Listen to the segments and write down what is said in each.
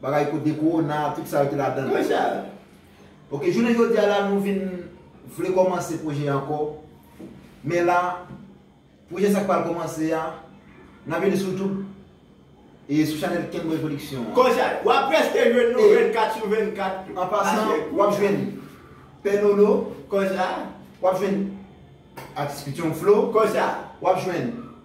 Bagay kot de korona tout sa yo te ladanl. Yo sa yo. Ok jounen jodi a la nou vin vle komanse pwojè anko men la pwojè sa k pral komanse a nan vini sou youtube e sou chanel kenboy production an. Konsa wap preske jwenn nou 24 sou 24. An pasan wap jwenn pè nolo. Konsa. Wap jwenn atis pityon flo. Konsa. Wap jwenn.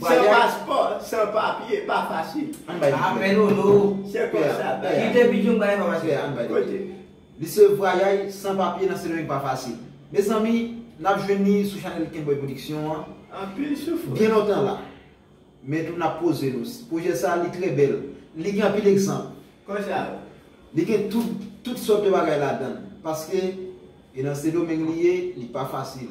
San paspò, san papye pa fasil. Ann bay li pè a. Se konsa bagay la. Kote? Li se vwayay san papye nan sendomeng pa fasil. Mezanmi nap jwenn li sou chanèl Kenboy production an. Anpil soufrans. Gen lontan la. Men tou nap poze nou. Pwojè sa li trè bèl. Li gen anpil egzanp. Konsa yo. Li gen tout, tout sòt de bagay ladann. Paske e nan sendomeng li ye, li pa fasil.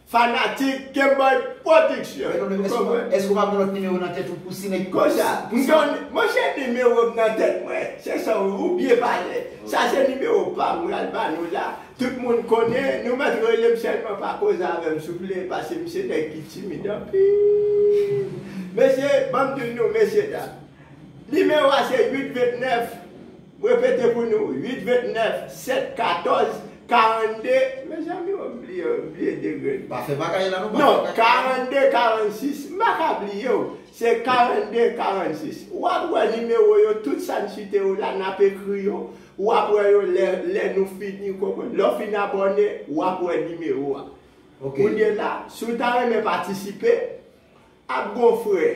Fanatik Kemboy production nou konprann. Eske ou pa gen lòt nimewo nan tèt ou pou si nèg. Konsa monchè nimewo m nan tèt mwen se sa ou byen pale sa se nimewo pam m pral ba nou la tout moun konnen nou mèt rele m sèlman pa koze avè m souple paske m se nèg ki timid anpil mesye ban m di nou mesye dam Nimewo a se 8 29, m repete pou nou, 8 29 7 14 42, mezanmi o m bliye m bliye degre l. Pa fè bagay la non pa fè bagay la. Non 42 46, m pa ka bliye w, se 42 46. W ap wè nimewo yo tout sa n site yo la n ap ekri yo, w ap wè yo lè lè nou fini ou konprann. Lè w fin abòne w ap wè nimewo a. Kounye la si w ta renmen patisipe ak bon frè.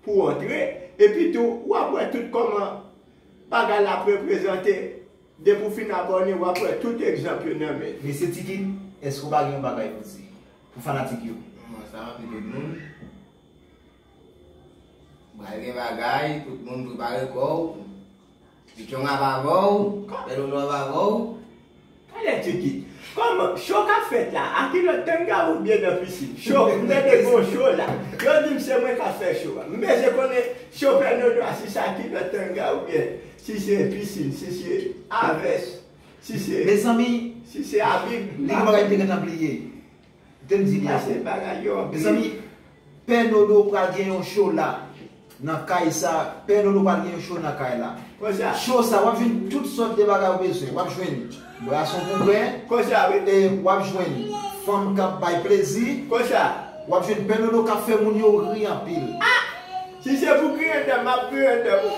pou w antre, epi tou w ap wè tout kòman bagay la ap reprezante, depi w fin abòne w ap wè tout egzanp yo nan men. Mesye Tikin, eske w pa gen yon bagay pou w di pou fanatik yo? Kòman sa anpil lòt moun? Pral gen bagay, tout moun prepare kò w. Strong ap avèw, bèl ou nou ap avèw. Talè Tuki. Kòman Cho kap fèt la a ki lòt tanga oubyen nan piscine Cho m tande gon Cho la yo dim se mwen kap fè Cho a m bezwen konnen Cho fè nou nwa si sa ki lòt tanga oubyen si se piscine si se avès si se Mezanmi si se abib m pa konn. Li gen bagay m te gentan bliye. Tem di byen se bagay yo anpil. Mezanmi pè nono pral gen yon show la nan kay sa pè nono pral gen yon show nan kay la Konsa. show sa wap jwenn tout sòt de bagay ou bezwen wap jwenn brason pou bwè Konsa wi. e wap jwenn fanm kap bay plezi Konsa. wap jwenn pè nono kap fè moun yo ri anpil. Ah! Si se pou griyen dèm map griyen dèm wi.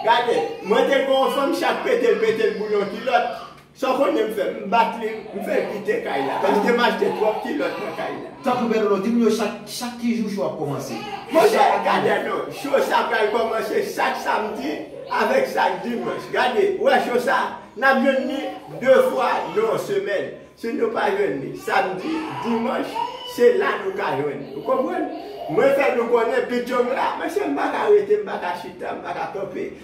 Gade, mwen te gen yon fanm chat petel petel pou yon kilòt. Sa Fonie m fè, m bat li, m fè l kite kay la paske m achte twòp kilòt nan kay la. Tanpri Bertolo, di moun yo chak chak ki jou show ap kòmanse? Monchè, gade non, show sa pral kòmanse chak samdi avèk chak dimanch. Gade, ou wè show sa, n ap jwenn li 2 fwa nan yon semèn. Si nou pa jwenn li samdi, dimanch, se la nou ka jwenn li. Ou konprann? Mwen fè nou konnen Pitchong la, monchè m pa ka rete, m pa ka chita, m pa ka kanpe.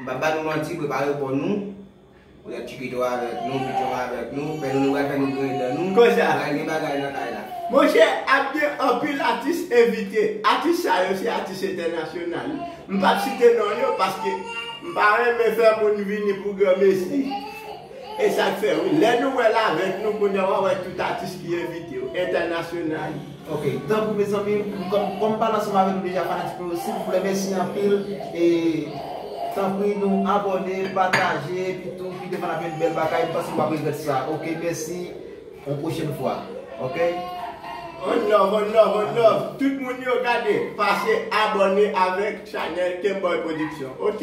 M pap ba nou manti prepare kò nou pou lè Chikito avèk nou, Pichon avèk nou, pè Nono pral fè nou griyen dan nou, pral gen bagay nan kay la. Monchè ap gen anpil atis envite, atis sa yo se atis entènasyonal, m pap site non yo paske m pa renmen fè moun vini pou granmesi. E sak fè wi lè nou wèl avèk nou kounye a wap wè tout atis ki envite yo entènasyonal. Ok tanpri mezanmi kòm pale ansanm avèk nou deja fanatik nou yo silvouplè mèsi anpil e tanpri nou abòne pataje epi tou kite fò n ap jwenn bèl bagay m panse nou pap regrèt sa ok mèsi yon pwochèn fwa ok. On love on love on love tout moun yo gade pase abòne avèk chanèl Kemboy production ok.